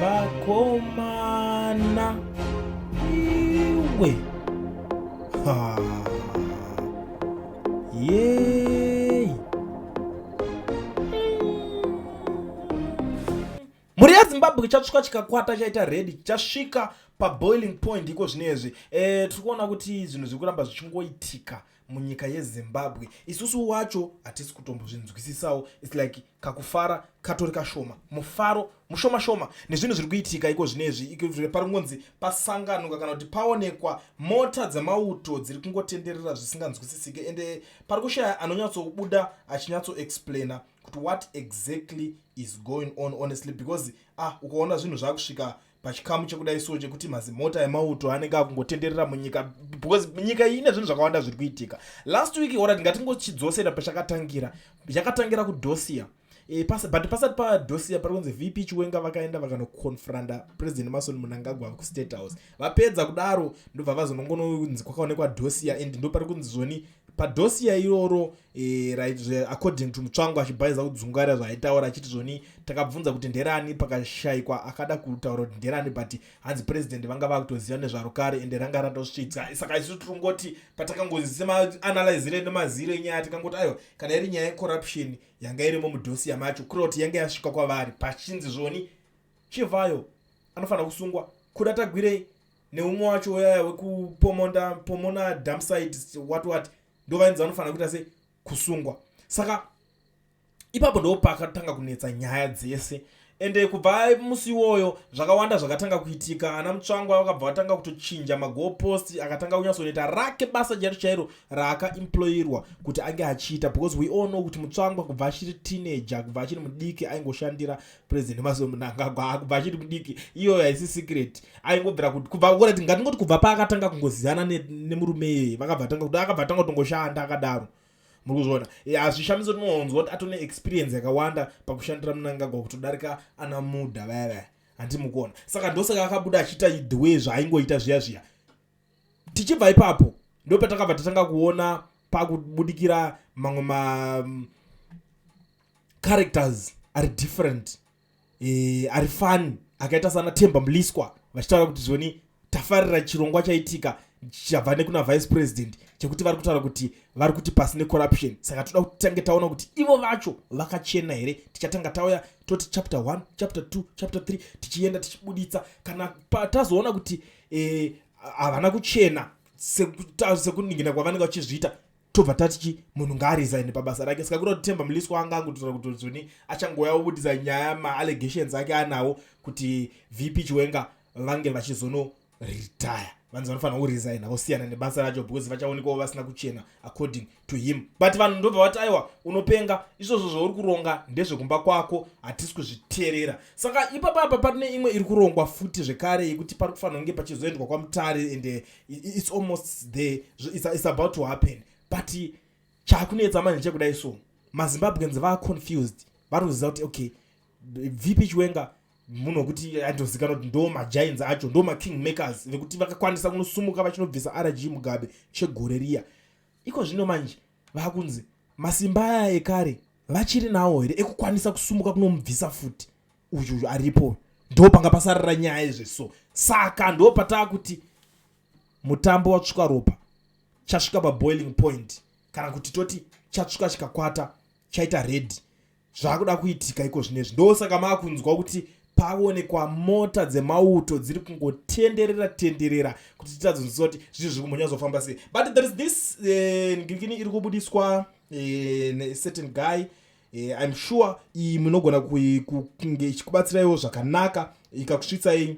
Vakomana iwe ha yei mhuri yezimbabwe chatsvuka chikakwata chaita redi chasvika paboiling point iko zvino izvi e, tiri kuona kuti zvinhu zviri kuramba zvichingoitika munyika yezimbabwe isusu wacho hatisi kutombozvinzwisisawo its like kakufara katori kashoma mufaro mushoma shoma nezvinhu zviri kuitika iko zvinezvi pari kungonzi pasanganuka kana kuti paonekwa mota dzemauto dziri kungotenderera zvisinganzwisisike ende pari kushaya anonyatsobuda achinyatsoexplaina kuti what exactly is going on honestly because ah ukaona zvinhu zvakusvika pachikamu chekudai so chekuti mazimota emauto anenge akungotenderera munyika because nyika iyi ine zvinhu zvakawanda zviri kuitika last week ora ndingatingochidzosera pachakatangira yakatangira kudosia e, eh, pas, but pasati padosia pari kunzi vp chiwenga vakaenda vakanoconfranda president mason munangagwa kustate house vapedza kudaro ndobva vazonongononzi kwakaonekwa dosia and ndo pari kunzi zvoni padosiya iroro e, according to mutsvango achibhaiza kudzungaira zvaaitaura achiti zvoni takabvunza kuti nderani pakashaikwa akada kutaura kuti nderani but hanzi president vanga vakutoziva nezvaro kare ende ranga ratosvitsa saka isu tiri kungoti patakangozisemaanalizire nemaziro enyaya tikangoti aiwa kana iri nyaya yecorruption yanga irimo mudosiya macho kureva kuti yanga yasvika kwavari pachinzi zvoni chivayo anofanira kusungwa kuda tagwirei neumwe wacho uyaya wekupomonda pomona dumpsite what what ndo vainzi vanofanira kuita se kusungwa saka ipapo ndo pakatanga kunetsa nyaya dzese ende kubva musi iwoyo zvakawanda zvakatanga kuitika ana mutsvangwa vakabva vatanga kutochinja magopost akatanga kunyatsoneta rake basa chairo chairo raakaemployirwa kuti ange achiita because we all know kuti mutsvangwa kubva achiri teenager kubva achiri mudiki aingoshandira president maso mnangagwa akubva achiri mudiki iyoyo haisi secret aingobvira kuti kubva kura ti ngatingoti kubva paakatanga kungoziyana nemurume iyeye vakabva tanga kuti akabva tanga kutongoshanda akadaro muri kuzviona e, hazvishamisi tinonzwa kuti atone experience yakawanda pakushandira munangagwa kutodarika ana muda vaya vaya handimukuona saka ndosaka akabuda achiita the way zvaaingoita zviya zviya tichibva ipapo ndopatakabva tatanga kuona pakubudikira mamwe ma mm, characters ari different e, ari fani akaita sana temba mliswa vachitaura kuti zvoni tafarira chirongwa chaitika chabva nekuna vice president chekuti vari kutaura kuti vari kuti pasi necorruption saka toda kuti tange taona kuti ivo vacho vakachena here tichatanga tauya toti chapter 1 chapter 2 chapter 3 tichienda tichibuditsa kana tazoona kuti e, havana kuchena sekuningina kwavanenge vachizviita tobva tati chi munhu ngaarizaine pabasa rake saka kuda kuti temba muliswa anga angototaura kuti zuni achangouya obudisa nyaya maallegations ake anawo kuti vp chiwenga vange vachizono retire vanzi vanofanira kurizaina vosiyana nebasa racho because vachaonekwawo vasina kuchena according to him but vanhu ndobva vati aiwa unopenga izvozvo zvauri kuronga ndezvekumba kwako hatisi kuzviteerera saka ipapa apa patine imwe iri kurongwa futi zvekare yekuti pari kufanira kunge pachizoendwa kwamutare and eh, its almost the its about to happen but chakunetsa manje chekudai so mazimbabweans vaa confused vari kuziva kuti okay vp chiwenga munhu wekuti andozikanwa kuti ndo magiants acho ndo making makers vekuti vakakwanisa kunosumuka vachinobvisa rg mugabe chegore riya iko zvino manje vakunzi masimba aya ekare vachiri nawo here ekukwanisa kusumuka kunomubvisa futi uyu uyu aripo ndo panga pasarira nyaya izve so saka ndo pataa kuti mutambo watsvuka ropa chasvika paboiling point kana kuti toti chatsvuka chikakwata chaita redi zvakuda kuitika iko zvinezvi ndosaka maakunzwa kuti paonekwa mota dzemauto dziri kungotenderera tenderera kuti titadzonzisa kuti zvinhu zviri kumhonya zofamba sei but there is this eh, ngirikini iri kubudiswa eh, necertain guy eh, im sure iyi munogona kunge ichikubatsiraiwo zvakanaka ikakusvitsai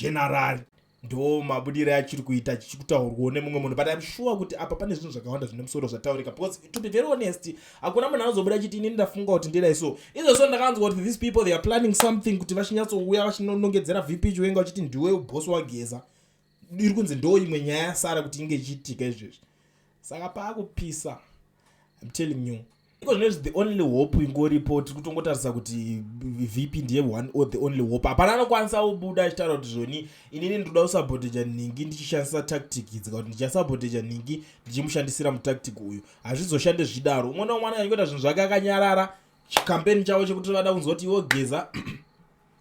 General ndo mabudire achiri kuita chichikutaurwawo nemumwe munhu but im sure kuti apa pane zvinhu zvakawanda zvine musoro zvataurika because to be very honest hakuna munhu anozobuda chiti ini ndafunga kuti ndidai so izvo so ndakanzwa kuti these people they are planning something kuti vachinyatsouya vachinonongedzera vp chiwenga vachiti ndiwe ubhosi wageza iri kunzi ndo imwe nyaya yasara kuti inge ichiitika izvezvi saka paakupisa im telling you iko zvinezvi the only hope ingoripo tiri kutongotarisa kuti vp ndiye one or the only hope hapana anokwanisa kubuda achitaura kuti zvoni inini ndinoda kusaboteja nhingi ndichishandisa tactic idzi ka kuti ndichasaboteja nhingi ndichimushandisira mutactic uyu hazvizoshande zvichidaro umwe naumwe anenge achiita zvinhu zvake akanyarara chikampeni chavo chekuti vada kunzoti iwo geza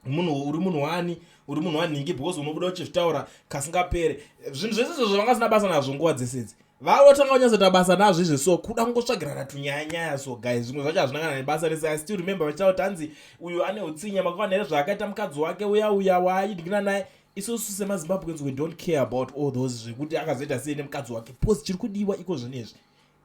munhu uri munhu wani uri munhu wanhingi because unobuda uchizvitaura kasingapere zvinhu zvese izvo zvavanga sina basa nazvo nguva dzese idzi vaotanga kunyatsoita basa nazvo izvi so kuda kungotsvagirana tunyayanyaya so guy zvimwe zvacho hazvina kana nebasa rese i still remember vachitaura kuti hanzi uyu ane utsinya makuvana here zvaakaita mukadzi wake uya uya waaidingina naye isusu semazimbabweans we don't care about all those zvekuti akazoita sei nemukadzi wake because chiri kudiwa iko zvinezvi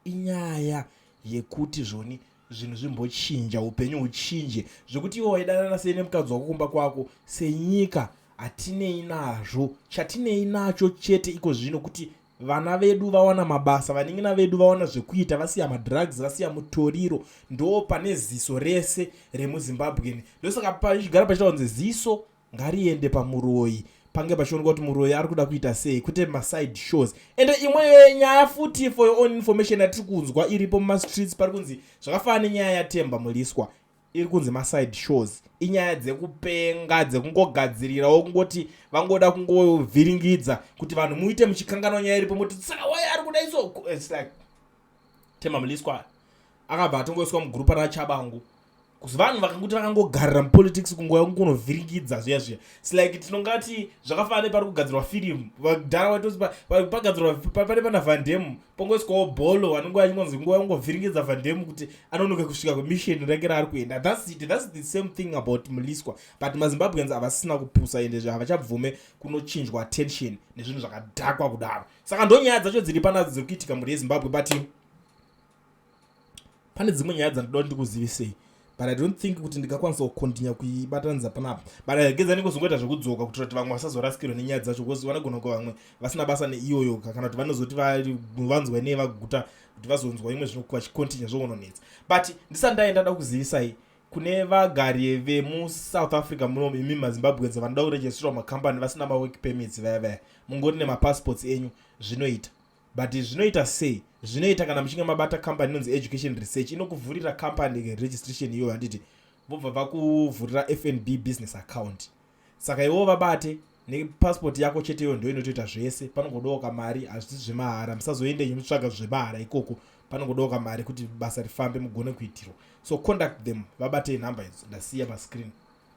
inyaya yekuti zvoni zvinhu zvimbochinja upenyu huchinje zvekuti ivo vaidanana sei nemukadzi wako kumba kwako senyika hatinei nazvo chatinei nacho chete iko zvino kuti vana vedu vawana mabasa vaningina vedu vawana zvekuita vasiya madrugs vasiya mutoriro ndo pane ziso rese remuzimbabwen ndosaka pachigara pachitaunzi ziso ngariende pamuroyi pange pachioneka kuti muroyi ari kuda kuita sei kwete maside shows and imwe nyaya futi for your own information yatiri kunzwa iripo mumastreets pari kunzi zvakafanana nenyaya yatemba muliswa iri kunzi maside shows inyaya dzekupenga dzekungogadzirirawo kungoti vangoda kungovhiringidza kuti vanhu muite muchikanganwa nyaya iripo moti saka waye ari kuda iso like Themba Mliswa akabva atongoiswa mugrupa raChabangu kuzi vanhu vakanguti vakangogarira mupolitics kunguva yokunge unovhiringidza zviya zviya slike tinongati zvakafana nepari kugadzirwa firimu vadhara waitozi pagadzirwa pane pana vandemu pongoiswawo bholo vanenge vachingonzi nguva yokungovhiringidza vandemu kuti anonoke kusvika kwemisheni rake raari kuenda thats it thats the same thing about muliswa but mazimbabweans havasina kupusa ende zve havachabvume kunochinjwa attention nezvinhu zvakadhakwa kudaro saka ndonyaya dzacho dziri panadzo dziri kuitika mhuri yezimbabwe but pane dzimwe nyaya dzandidoa ndikuzivisei but i don't think kuti ndingakwanisa kukontinya kuibatanidza panapa but ageza anenge kuzongoita zvekudzoka kuitira kuti vamwe vasazorasikirwa nenyaya dzacho bcause vanogona kuva vamwe vasina basa neiyoyo kana kuti vanozoti vanzwa nei vaguta kuti vazonzwa imwe zvinokuva chikontinya zvoononetsa but ndisati ndaenda da kuzivisai kune vagari vemusouth africa muno imi mazimbabwedza vanoda kuregistrwa macompany vasina mawork permits vaya vaya mungori nemapassports enyu zvinoita but zvinoita sei zvinoita kana muchinge mabata company inonzi education research inokuvhurira company registration iyoyo handiti vobva vakuvhurira fnb business account saka iwo vabate nepasipoti yako cheteyo ndo inotoita zvese panongodoka mari hazvisi zvemahara musazoende nyu mutsvaga zvemahara ikoko panongodoka mari kuti basa rifambe mugone kuitirwa so conduct them vabatei nhamba idzo ndasiya pascreen